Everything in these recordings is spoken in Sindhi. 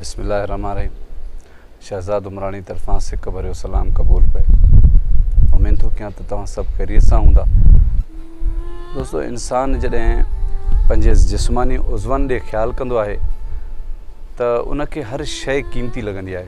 بسم الله الرحمن الرحيم شهزاد عمراڻي طرفان سڪ ڀريو سلام قبول پئي امين ٿو ڪيان ته توهان سڀ خيريت سان هوندا دوستو انسان جڏهن پنهنجي جسماني عضون ڏي خيال ڪندو آهي ته ان کي هر شيء قيمتي لڳندي آهي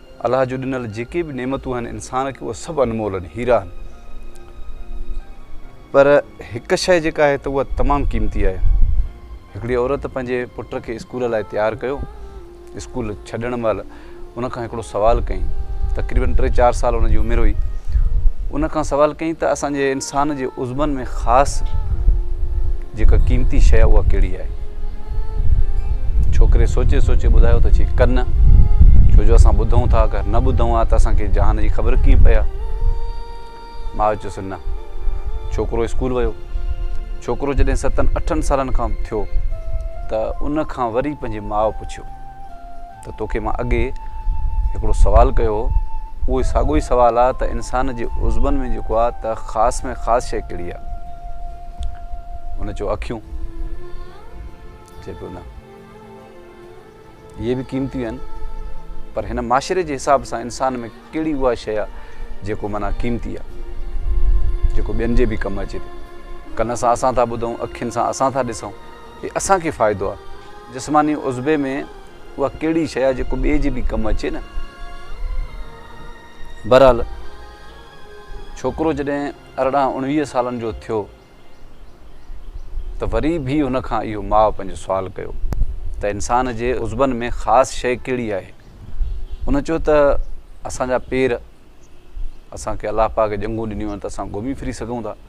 الله جون ڏنل جيڪي به نعمتون آهن انسان کي اهي سڀ انمول آهن هيرا آهن پر هڪ شيء جيڪا آهي ته اها تمام قيمتي آهي هڪڙي عورت پنهنجي پٽ کي اسڪول لاء تيار ڪيو اسڪول ڇڏڻ مهل ان کان هڪڙو سوال ڪئي تقريبن ٽي چار سال ان جي عمر هئي ان کان سوال ڪئي ته اسان جي انسان جي عزمن ۾ خاص جيڪا قيمتي شيء اها ڪهڙي آهي؟ ڇوڪري سوچي سوچي ٻڌايو ته چي ڪن ڇو جو اسان ٻڌون ٿا اگر نه ٻڌون ها ته اسان کي جهان جي خبر ڪيئن پئي ها ماء چيس نه ڇوڪرو اسڪول ويو ڇوڪرو جڏهن ستن اٺن سالن کان ٿيو ته ان کان وري پنهنجي ماء پڇيو ته توکي مان اڳي هڪڙو سوال ڪيو هو اهوئي ساڳيو ئي سوال آ ته انسان جي عضون ۾ جيڪو آ ته خاص ۾ خاص شيء ڪهڙي آ؟ هن چيو اکيون چي پيو نه اهي به قيمتيون آهن پر هن معاشري جي حساب سان انسان ۾ ڪهڙي اها شيء آ جيڪو معنيٰ قيمتي آ جيڪو ٻين جي به ڪم اچي ٿي ڪن سان اسان ٿا ٻڌون اکين سان اسان ٿا ڏسون هي اسان کي فائدو آ جسماني عضوي ۾ اها ڪهڙي شيء آهي جيڪو ٻئي جي به ڪم اچي نه. بهرحال ڇوڪرو جڏهن ارڙهن اڻويهه سالن جو ٿيو ته وري به هن کان اهو ماء پنهنجو سوال ڪيو ته انسان جي عضبن ۾ خاص شيء ڪهڙي آهي؟ ان چيو ته اسان جا پير اسان کي الله پاڪ ڄنگهون ڏنيون آهن ته اسان گهمي ڦري سگهون ٿا.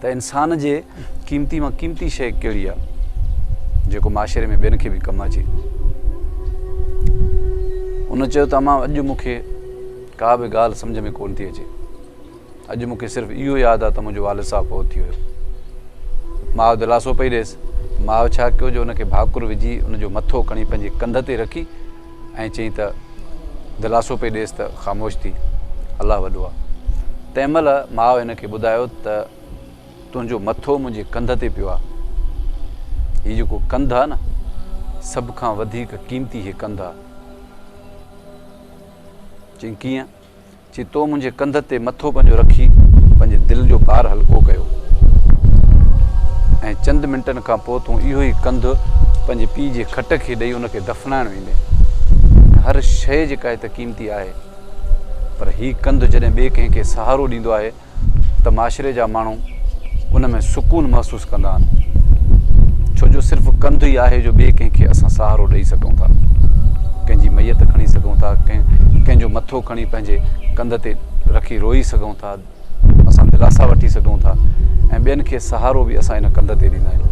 ته انسان جي قيمتي مان قيمتي شيء ڪهڙي آهي جيڪو معاشري ۾ ٻين کي به ڪم اچي. ان چيو ته امان اڄ مون کي ڪا به ڳالهه سمجهه ۾ ڪونه ٿي اچي. اڄ مون کي صرف اهو ياد آهي ته منهنجو والد صاحب فوت ٿي ويو. ماء دلاسو پئي ڏيس. ماء ڇا ڪيو جو ان کي ڀاڪر وجهي ان جو مٿو کڻي پنهنجي ڪنڌ تي رکي ائين چئي ته دلاسو پئي ڏيس ته خاموش ٿي، الله وڏو آ. تنهن مهل ماء هن کي ٻڌايو ته تنهنجو مٿو منهنجي ڪنڌ تي پيو آ. هي جيڪو ڪنڌ آ نه، سڀ کان وڌيڪ قيمتي هي ڪنڌ آ. چيائين ڪيئن؟ چي تو منهنجي ڪنڌ تي مٿو پنهنجو رکي پنهنجي دل جو بار هلڪو ڪيو ۽ چند منٽن کان پوء تون اهو ئي ڪنڌ پنهنجي پيء جي کٽ کي ڏئي ان کي دفنائڻ ويندين هر شيء جيڪا هت قيمتي آهي پر هي ڪنڌ جڏهن ٻئي ڪنهن کي سهارو ڏيندو آهي ته معاشري جا ماڻهو ان ۾ سڪون محسوس ڪندا آهن ڇو جو صرف ڪنڌ ئي آهي جو ٻئي ڪنهن کي اسان سهارو ڏيئي سگهون ٿا ڪنهن جي ميت کڻي سگهون ٿا ڪنهن ڪنهن جو مٿو کڻي پنهنجي ڪنڌ تي رکي روئي سگهون ٿا اسان دلاسا وٺي سگهون ٿا ۽ ٻين کي سهارو به اسان ان ڪنڌ تي ڏيندا آهيون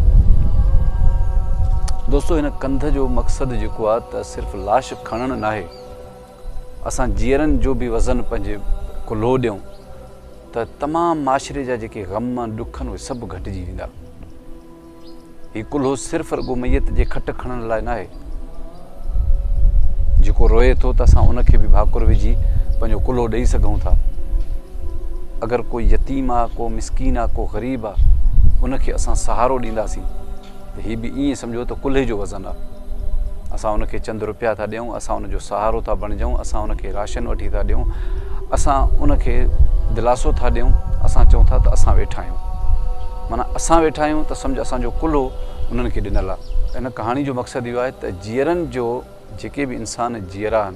دوستو هن ڪنڌ جو مقصد جيڪو آهي ته صرف لاش کڻڻ ناهي اسان جيئرن جو به وزن پنهنجي ڪلهو ڏيون ته تمام معاشري جا جيڪي غم ڏک آهن اهي سڀ گهٽجي ويندا هي ڪلهو صرف رڳو ميت جي کٽ کڻڻ لاء ناهي جيڪو روئي ٿو ته اسان ان کي به ڀاڪر وجهي پنهنجو ڪلهو ڏيئي سگهون ٿا اگر ڪو يتيم آهي ڪو مسڪين آهي ڪو غريب آهي ان کي اسان سهارو ڏينداسين ته هي به ائين سمجهو ته ڪلهي جو وزن آ. اسان ان کي چند روپيا ٿا ڏيون، اسان ان جو سهارو ٿا بڻجون، اسان ان کي راشن وٺي ٿا ڏيون، اسان ان کي دلاسو ٿا ڏيون، اسان چئون ٿا ته اسان ويٺا آهيون. معنيٰ اسان ويٺا آهيون ته سمجهه اسان جو ڪلهو انهن کي ڏنل آ. ان ڪهاڻي جو مقصد اهو آهي ته جيئرن جو جيڪي به انسان جيئرا آهن،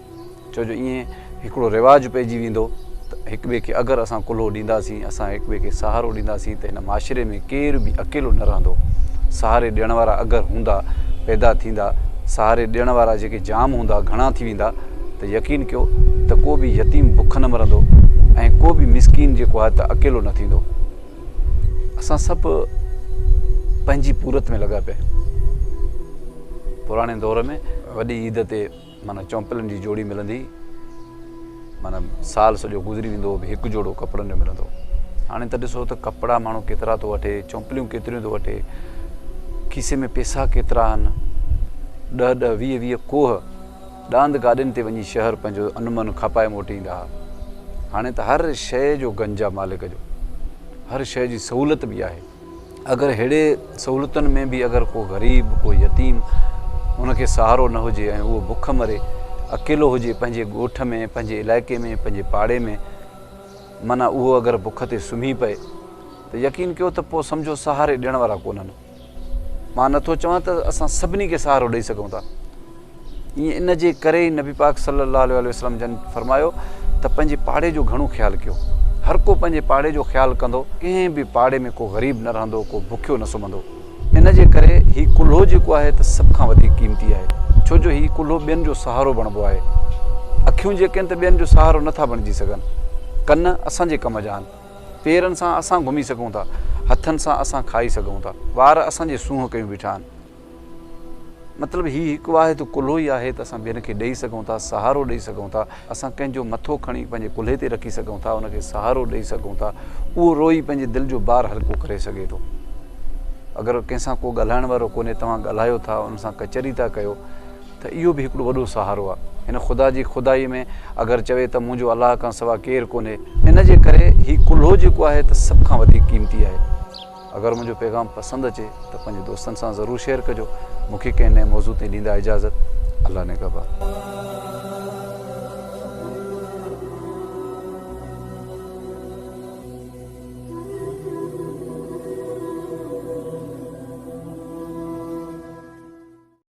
ڇو جو ائين هڪڙو رواج پئجي ويندو ته هڪ ٻئي کي اگر اسان ڪلهو ڏينداسين اسان هڪ ٻئي کي سهارو ڏينداسين ته هن معاشري ۾ ڪير به اڪيلو نه رهندو سهاري ڏيڻ وارا اگر هوندا پيدا ٿيندا سهاري ڏيڻ وارا جيڪي جام هوندا گهڻا ٿي ويندا ته يقين ڪيو ته ڪو به يتيم بک نه مرندو ۽ ڪو به مسڪين جيڪو آهي ته اڪيلو نه ٿيندو اسان سڀ پنهنجي پورت ۾ لڳا پيا پراڻي دور ۾ وڏي عيد تي معنيٰ چؤنپلن جي جوڙي ملندي معنيٰ سال سڄو گذري ويندو هو به هڪ جوڙو ڪپڙن جو ملندو هاڻي ته ڏسو ته ڪپڙا ماڻهو ڪيترا ٿو وٺي چؤنپليون ڪيتريون ٿو وٺي کيسي ۾ پيسا ڪيترا آهن ڏه ڏه ويهه ويهه کوهه ڏاند گاڏين تي وڃي شهر پنهنجو انمن کپائي موٽي ايندا هئا هاڻي ته هر شيء جو گنج آهي مالڪ جو هر شيء جي سهولت به آهي اگر ههڙي سهولتن ۾ به اگر ڪو غريب، ڪو يتيم ان کي سهارو نه هجي ۽ اهو بک مري، اڪيلو هجي پنهنجي ڳوٺ ۾، پنهنجي علائقي ۾، پنهنجي پاڙي ۾، معنيٰ اهو اگر بک تي سمهي پئي ته يقين ڪيو ته پوء سمجهو سهاري ڏيڻ وارا ڪونهن. مان نه ٿو چوان ته اسان سڀني کي سهارو ڏئي سگهون ٿا. ائين ان جي ڪري ئي نبي پاڪ صلّي اللّٰه عليه واٰله وسلّم جن فرمايو ته پنهنجي پاڙي جو گهڻو خيال ڪيو. هر ڪو پنهنجي پاڙي جو خيال ڪندو، ڪنهن به پاڙي ۾ ڪو غريب نه رهندو، ڪو بکيو نه سمهندو. ان جي ڪري هي ڪلهو جيڪو آهي ته سڀ کان وڌيڪ قيمتي آهي، ڇو جو هي ڪلهو ٻين جو سهارو بڻبو آهي. اکيون جيڪي آهن ته ٻين جو سهارو نه ٿا بڻجي سگهن. ڪن اسان جي ڪم جا آهن. پيرن سان اسان گهمي سگهون ٿا. هٿن سان اسان کائي سگهون ٿا. وار اسان جي سونهن ڪيون بيٺا آهن. مطلب هي هڪ واحد ڪلهو ئي آهي ته اسان ٻين کي ڏئي سگهون ٿا، سهارو ڏئي سگهون ٿا. اسان ڪنهن جو مٿو کڻي پنهنجي ڪلهي تي رکي سگهون ٿا، ان کي سهارو ڏئي سگهون ٿا. اهو روئي پنهنجي دل جو بار هلڪو ڪري سگهي ٿو. اگر ڪنهن سان ڪو ڳالهائڻ وارو ڪونهي، توهان ڳالهايو ٿا، ان سان ڪچهري ٿا ڪيو ته اهو به هڪڙو وڏو سهارو آهي. هن خدا جي خدائي ۾ اگر چوي ته منهنجو الله کان سوا ڪير ڪونهي. ان جي ڪري هي ڪلهو جيڪو آهي ته سڀ کان وڌيڪ قيمتي آهي. اگر منهنجو پيغام پسند اچي ته پنهنجي دوستن سان ضرور شيئر ڪجو مون کي ڪنهن نئين موضوع تي ڏيندا اجازت الله نگهبان.